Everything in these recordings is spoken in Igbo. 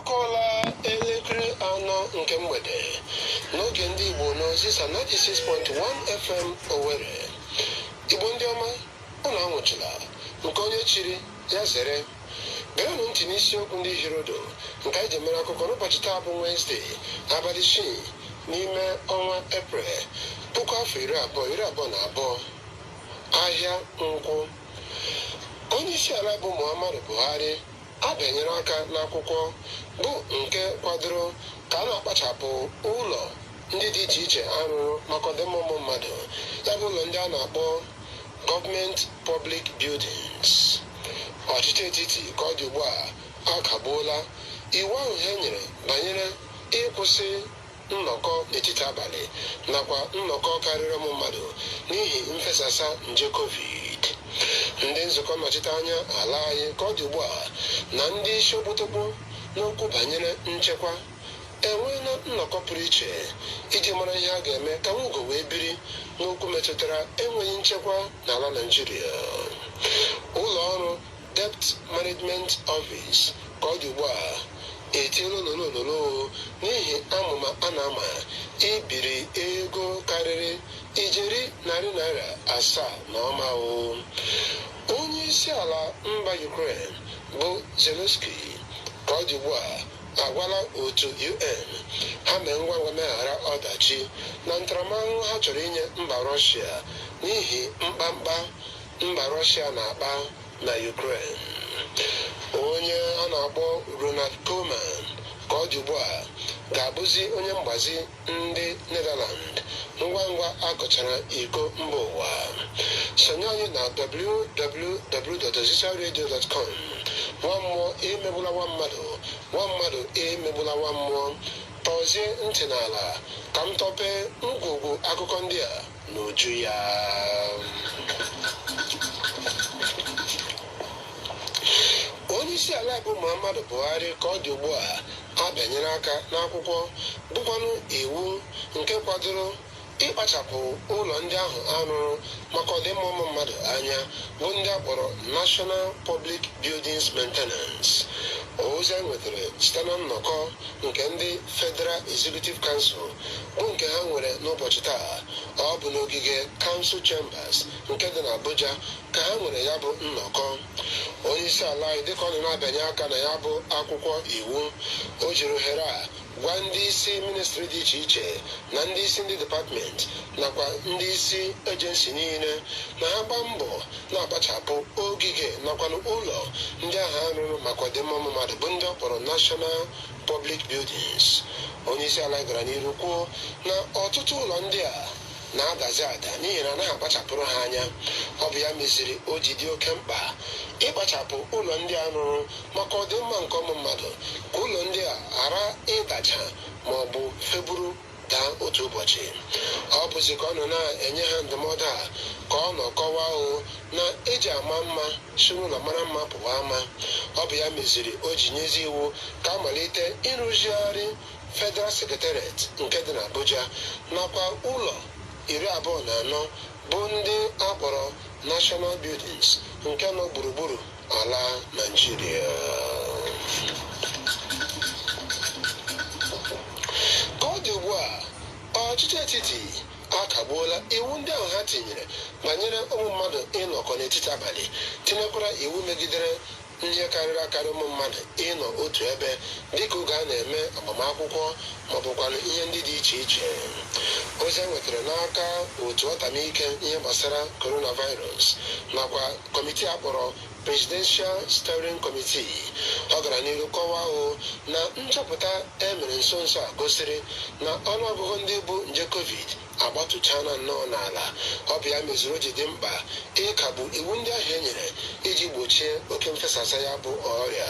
akụọla elekere anọ nke mgbede n'oge ndị Igbo n'ozisa 96.1 FM Owerri Igbo ndị ọma unu anwụchila nke onye chiri ya zere gerenụ ntị n'isiokwu ndị hirodo nke anyị ji mere akụkọ n'ụbọchị taa bụ Wenesde abalị isii n'ime ọnwa Eprel puku afọ abụọ iri abụọ na abụọ ahịa Nkwọ onye isi ala bụ Muhammadu Buhari abịanyere aka n'akwụkwọ bụ nke kwadoro ka a na-akpachapụ ụlọ ndị dị iche iche a rụrụ maka ọdịmma ụmụ mmadụ, ya bụ ụlọ ndị a na-akpọ Government Public Buildings. Ọchịchị etiti ka ọ dị ugbu a akagbuola iwu ahụ ha nyere banyere ịkwụsị nnọkọ n'etiti abalị nakwa nnọkọ karịrị ụmụ mmadụ n'ihi mfesasa nje covid ndị nzukọ nnọchite anya ala anyị ka ọ dị ugbu a na ndị isi okpotokpo n'okwu banyere nchekwa enweela nnọkọ pụrụ iche iji mara ihe a ga-eme ka nwugo wee biri n'okwu metụtara enweghị nchekwa n'ala naijiria ụlọ ọrụ Debt Management Office ka ọ dị ugbu a etiela ololololo n'ihi amụma a na-ama ibiri ego karịrị ijeri narị naira asaa na ụma onye isi ala mba Ukraine bụ Zelensky ka ọ dị ugbu a agwala otu UN ha mee ngwa ngwa meghara ọdachi na ntaramahụhụ ha chọrọ inye mba Rọshia n'ihi mkpamkpa Mba Rọshịa na-akpa na Ukraine. Onye a na-akpọ Ronald Koeman ka ọ dị ugbu a ga-abụzi onye mgbazi ndị Netherland ngwa ngwa a gụchara iko mba ụwa. Sonye anyị na www.ozisaradio.com nwa mmụọ emegbula nwa mmadụ nwa mmadụ emegbula nwa mmụọ tọzie ntị n'ala ka m tọpee ngwugwu akụkọ ndị a n'uju ya onyeisiala bụ muhammadu buhari ka ọ dị ugbu a abịanyere aka n'akwụkwọ bụkwanụ iwu nke kwadoro ịkpachapụ ụlọ ndị ahụ a rụrụ maka ọdịmma ụmụ mmadụ anya bụ ndị a kpọrọ national public buildings maintenance ozi a nwetara site na nnọkọ nke ndị federal executive council bụ nke ha nwere n'ụbọchị taa ọ bụ n'ogige council chambers nke dị n'abuja ka ha nwere ya bụ nnọkọ onye isi ala anyị dịka ọ nọ na-abịanye aka na ya bụ akwụkwọ iwu o jiri ohere a gwa ndị isi ministri dị iche iche na ndị isi ndị depatmenti nakwa ndị isi ejensi niile na ha gbaa mbọ na-akpachapụ ogige nakwanụ ụlọ ndị ahụ a rụrụ maka ọdịmma ụmụ mmadụ bụ ndị ọ kpọrọ national Public Buildings. Onyeisiala gara n'iru kwuo na ọtụtụ ụlọ ndị a na-adazi ada n'ihi na anaghị akpachapụrụ ha anya ọ bụ ya meziri o ji dị oke mkpa ịkpachapụ ụlọ ndị a rụrụ maka ọdịmma nke ụmụ mmadụ ka ụlọ ndị a ghara ịdaja ma ọ bụ feburu daa otu ụbọchị. Ọ bụzi ka ọ nọ na-enye ha ndụmọdụ a ka ọ nọ kọwaa o na e ji ama mma si n'ụlọ mara mma pụwa ama. Ọ bụ ya meziri o ji nyezi iwu ka a malite ịrụzigharị Federal Secretariat nke dị n'Abuja nakwa ụlọ iri abụọ na anọ bụ ndị a kpọrọ National Buildings nke nọ gburugburu ala Naijiria ka ọ dị ugbu a ọchịchị etiti akagbuola iwu ndị ahụ ha tinyere banyere ụmụ mmadụ ịnọkọ n'etiti abalị tinyekwara iwu megidere ihe karịrị akarị ụmụ mmadụ ịnọ otu ebe dịka oge a na-eme agbamakwụkwọ maọbụkwanụ ihe ndị dị iche iche ozi e nwetara n'aka otu ọtamike ihe gbasara coronavirus nakwa kọmitii a kpọrọ Presidential Steering Committee ọ gara n'ihu kọwaa o na nchọpụta e mere nso nso a gosiri na ọnụọgụgụ ndị bu nje covid agbatụchaala nnọọ n'ala ọ bụ ya meziri o ji dị mkpa ịkagbu iwu ndị ahụ e nyere iji gbochie oke mfesasa ya bụ ọrịa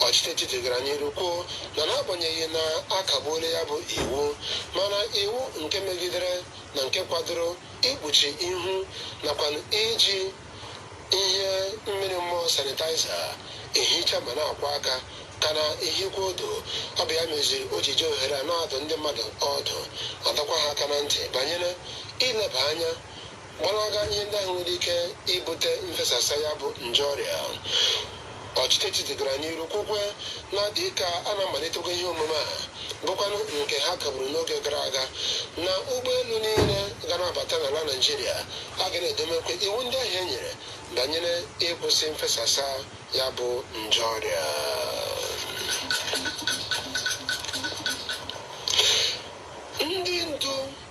ọchịchị etiti gara n'ihu kwuo na n'agbanyeghị na a kagbuola ya bụ iwu mana iwu nke megidere na nke kwadoro ikpuchi ihu nakwanụ iji ihe mmiri mmụọ sanitaiza ehicha ma na-akwọ aka ka na-ehikwa odo ọ bụ ya meziri o ji ji ohere a na-adụ ndị mmadụ ọdụ adọkwa ha aka na ntị banyere ileba anya gbalaga ihe ndị ahụ nwere ike ibute mfesasa ya bụ nje ọrịa Ọchịchị etiti gara n'iru kwukwe na dịka a na-amalitekwa ihe omume a bụkwanụ nke ha kagburu n'oge gara aga na ụgbọelu niile ga na-abata n'ala Naịjirịa a ga na-edemekwa iwu ndị ahụ e nyere banyere ịkwụsị mfesasa ya bụ nje ọrịa ndị ndu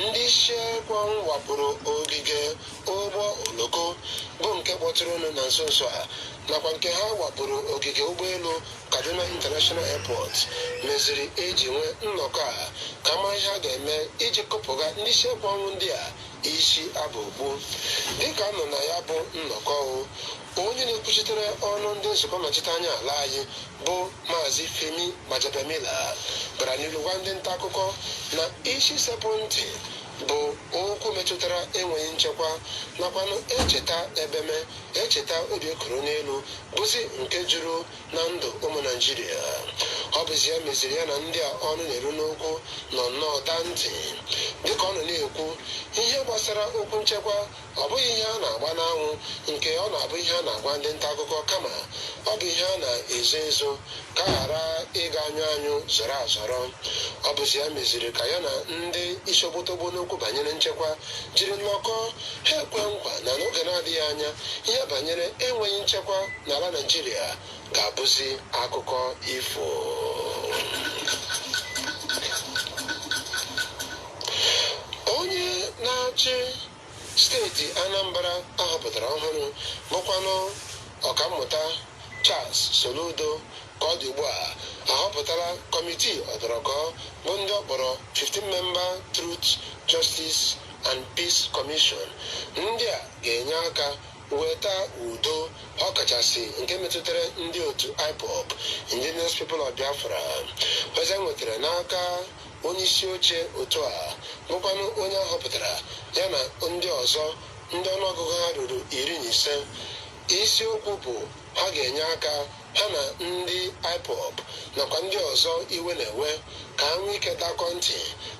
Ndị isi ekwe ọnwụ wakporo ogige ụgbọ oloko bụ nke kpọtụrụnụ na nso nso a nakwa nke ha wakporo ogige ụgbọelu Kaduna International Airport meziri e ji nwee nnọkọ a ka mara ihe a ga-eme iji kụpụga ndị isi ekwe ọnwụ ndị a isi aba okpu. Dịka a nọ na ya bụ nnọkọ o Onye na-ekwuchitere ọnụ ndị nzukọ nnọchiteanya ala anyị bụ Maazị Femi Gbajabiamila gara n'ihu gwa ndị nta akụkọ na isi sekpụ ntị bụ okwu metụtara enweghị nchekwa nakwanụ echeta ebeme echeta obi ekoro n'elu bụzi nke juru na ndụ ụmụ naijiria ọ bụzi ya meziri ya na ndị a ọnụ na-eru n'okwu nọ nnọọ daa ntị dịka ọ nọ na-ekwu ihe gbasara okwu nchekwa Ọ bụghị ihe a na-agba n'anwụ nke ọ na-abụ ihe a na-agwa ndị nta akụkọ kama ọ bụ ihe a na-ezo ezo ka a ghara ịga anyụ anyụ zọrọ azọrọ. Ọ bụzi ya meziri ka ya na ndị isi okpotokpo n'okwu banyere nchekwa jiri nnọkọọ, ha ekwee nkwa na n'oge na-adịghị anya ihe banyere enweghị nchekwa n'ala Nigeria ga-abụzi akụkọ ifo onye na-achị steeti Anambra ahọpụtara ọhụrụ bụkwanụ ọkammụta Charles Soludo ka ọ dị ugbu a ahọpụtala kọmitii ọdọrọkọ bụ ndị ọ kpọrọ 15 member Truth Justice and Peace Commission ndị a ga-enye aka weta udo ọkachasị nke metụtara ndị otu IPOB Indigenous People of Biafra Ozi e nwetara n'aka onye isi oche otu a bụkwanụ onye a họpụtara ya na ndị ọzọ ndị ọnụọgụgụ ha ruru iri na ise isiokwu bụ ha ga-enye aka ha na ndị IPOB nakwa ndị ọzọ iwe na-ewe ka ha nwee ike dakọ ntị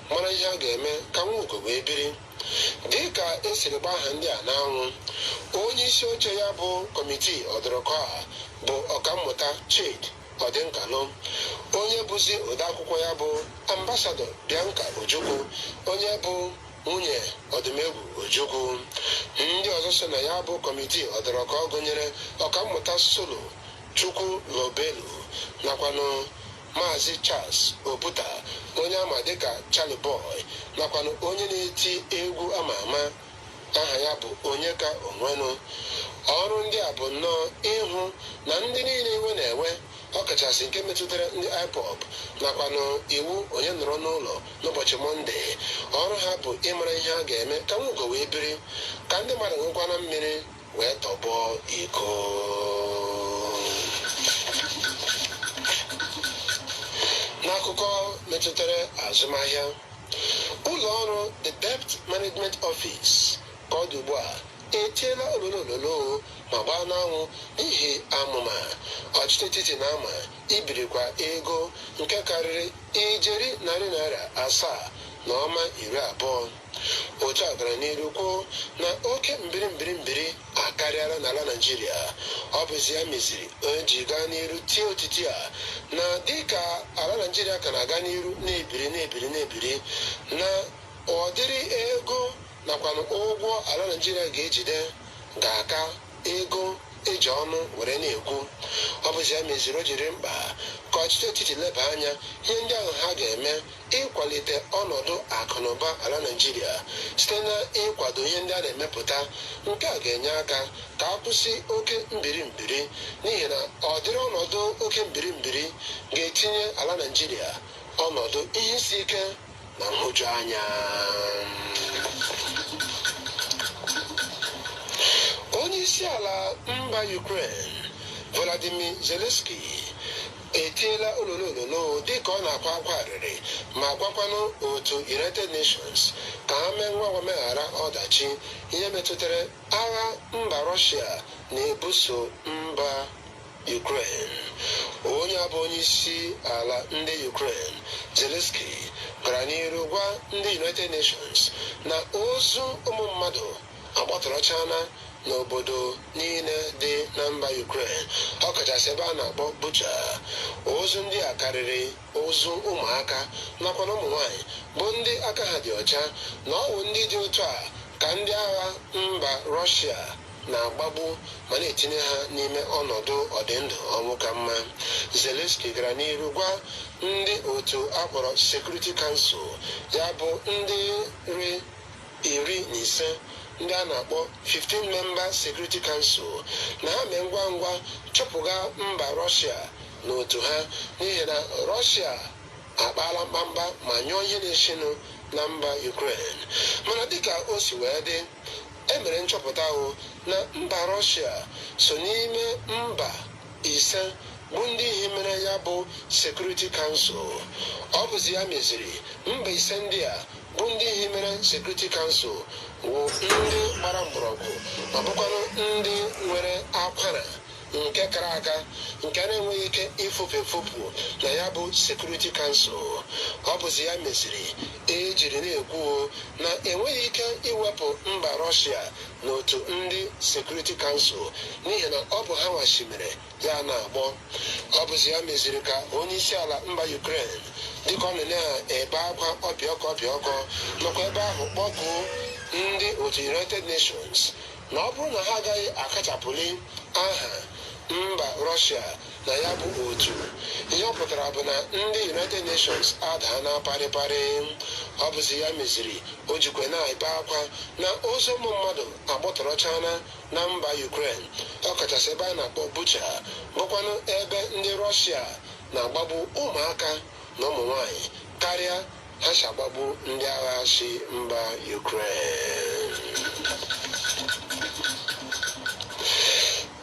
mara ihe a ga-eme ka nwa ugo wee biri dịka e siri gba aha ndị a n'anwụ onye isi oche ya bụ kọmitii ọdụrụkọ a bụ ọkammụta chidi odinkalu onye bụzi odeakwụkwọ ya bụ ambasadọ bianca ojukwu onye bụ nwunye odumegwu ojukwu ndị ọzọ so na ya bụ kọmitii ọdụrụkọ gụnyere ọkammụta solo chukwulobelu nakwanụ Maazị Charles Oputa onye ama dịka Charly Boy nakwanụ onye na-eti egwu ama ama aha ya bụ Onyeka Onwenu ọrụ ndị a bụ nnọọ ịhụ na ndị niile iwe na-ewe ọkachasị nke metụtara ndị IPOB nakwanụ iwu onye nọrọ n'ụlọ n'ụbọchị mọnde ọrụ ha bụ ịmara ihe a ga-eme ka nwa ugo wee biri ka ndị mmadụ nwekwana mmiri wee tọgbọ iko n'akụkọ metụtara azụmahịa ụlọ ọrụ the debt management office ka ọ dị ugbu a etiela ololo ololo ma gbaa n'anwụ n'ihi amụma ọchịchị etiti na ama ibirikwa ego nke karịrị ijeri naira narị asaa na ụma iri abụọ Otu a gara n'iru kwuo na oke mbiri mbiri mbiri akarịala n'ala Naịjirịa. Ọ bụzi ya meziri o ji gaa n'iru tie otiti a na dịka ala Naịjirịa ka na-aga n'iru na-ebiri na-ebiri na-ebiri na ụdịrị ego nakwanụ ụgwọ ala Naịjirịa ga-ejide ga-aka ego e ji ọnụ were na-ekwu ọ bụzi ya meziri o jiri mkpa ka ọchịchị etiti leba anya ihe ndị ahụ ha ga-eme ịkwalite ọnọdụ akụ na ụba ala naijiria site na ịkwado ihe ndị a na-emepụta nke a ga-enye aka ka a kwụsị oke mbiri mbiri n'ihi na ụdịrị ọnọdụ oke mbiri mbiri ga-etinye ala naijiria ọnọdụ ihe isi ike na nhụjuanya onye isi ala mba Ukraine Volodymyr Zelensky etiela ololo ololo dịka ọ na-akwa akwa arịrị ma gwakwanụ otu United Nations ka ha mee ngwa ngwa meghara ọdachi ihe metụtara agha mba Russia na-ebuso mba Ukraine. Onye a bụ onyeisi ala ndị Ukraine, Zelensky, gara n'iru gwa ndị United Nations na ozu ụmụ mmadụ agbatọrọchaala n'obodo niile dị na mba Ukraine, ọkachasị ebe a na-akpọ Bucha. Ozu ndị a karịrị ozu ụmụaka nakwa na ụmụ nwaanyị bụ ndị aka ha dị ọcha na ọ wụ ndị dị otu a ka ndị agha mba Russia na-agbagbu ma na-etinye ha n'ime ọnọdụ ọdịndụ ọnwụ ka mma Zelensky gara n'iru gwa ndị otu a kpọrọ Security Council ya bụ ndị iri na ise ndị a na-akpọ 15 member Security Council na ha mee ngwa ngwa chụpụga mba Russia n'otu ha n'ihi na Russia akpaala mkpamkpa ma nyụọ ihe na-eshinụ na mba Ukraine mana dịka o si wee dị E mere nchọpụta hụ na mba Russia so n'ime mba ise bụ ndị hiwere ya bụ Security Council. Ọ bụzi ya meziri mba ise ndị a bụ ndị hiwere Security Council wụ ndị gbara mgbọrọgwụ ma bụkwanụ ndị nwere akwara nke kara aka nke a na-enweghị ike ifupu efupu na ya bụ Security Council ọ bụzi ya meziri ejiri na-ekwu na enweghị ike iwepụ mba Russia n'otu ndị Security Council n'ihi na ọ bụ ha nwachimere ya na-agbọ ọ bụzi ya meziri ka onye isi ala mba Ukraine dịka ọ nọ na-ebe akwa ọpịọkọ ọpịọkọ nọkwa ebe ahụ kpọkuo ndị otu united nations na ọ bụrụ na ha agaghị akachapụli aha mba Russia na ya bụ otu ihe ọ pụtara bụ na ndị united nations adaana parịparị ọ bụzi ya meziri o jikwe na-ebe akwa na ozu ụmụ mmadụ agbọtọrọchana na mba ukraine ọkachasị ebe a na-akpọ bucha bụkwanụ ebe ndị Russia na-agbagbu ụmụaka na ụmụ nwanyị karịa ha si agbagbu ndị agha si mba Ukraine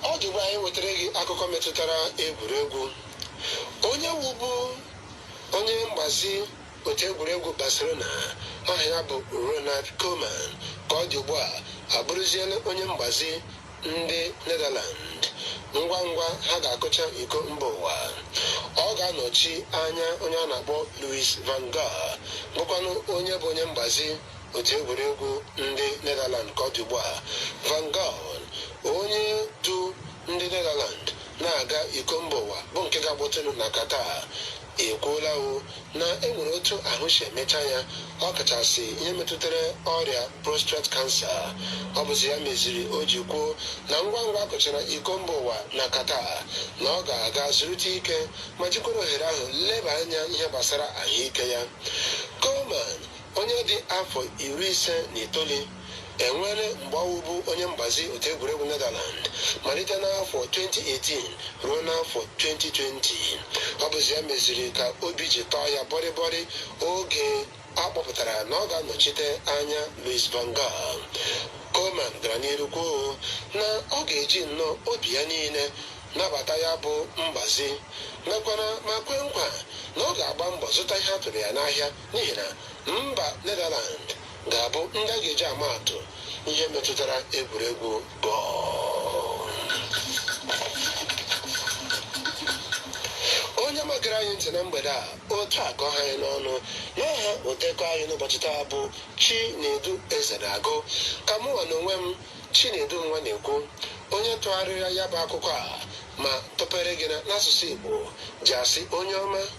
ọ dị ugbu a anyị wetara gị akụkọ metụtara egwuregwu onye wụbu onye mgbazi otu egwuregwu Barcelona aha ya bụ Ronald Koeman ka ọ dị ugbu a abụrụziela onye mgbazi ndị Netherland ngwa ngwa ha ga-akụcha iko mba ụwa ọ ga-anọchi anya onye a na-akpọ Louis van Gaal bụkwanụ onye bụ onye mgbazi otu egwuregwu ndị Netherland ka ọ dị ugbu a van Gaal onye du ndị Netherland na-aga iko mba ụwa bụ nke ga-akpọtụnụ na Qatar ekwuola o na e nwere otu ahụ si emecha ya ọ kachasị ihe metụtara ọrịa prostate cancer ọ bụzi ya meziri o ji kwuo na ngwa ngwa a kụchara iko mba ụwa na Qatar na ọ ga-aga zurute ike ma jikwara ohere ahụ leba anya ihe gbasara ahụike ya Koeman Onye dị afọ iri ise na itoolu e nwere mgbe ọ wụbu onye mgbazi otu egwuregwu Netherland malite n'afọ 2018 ruo n'afọ 2020. Ọ bụzi ya meziri ka obi ji tọọ ya bọrịbọrị oge a kpọpụtara na ọ ga-anọchite anya Louis van Gaal. Koeman gara n'iru kwuo na ọ ga-eji nnọọ obi ya niile nabata ya bụ mgbazi mekwara ma kwe nkwa na ọ ga-agba mbọ zụta ihe a tụrụ ya n'ahịa n'ihi na mba Netherland ga-abụ ndị a ga-eji ama atụ ihe metụtara egwuregwu bọọlụ onye ọma gere anyị ntị na mgbede a otu a ka ọ ha anyị n'ọnụ n'aha odekọ anyị n'ụbọchị taa bụ chinedu Ezenagụ ka mụnwa na onwe m chinedu Nwanekwu onye tụgharịrị ya bụ akụkọ a ma tụpere gị na- n'asụsụ igbo ji asị onye ọma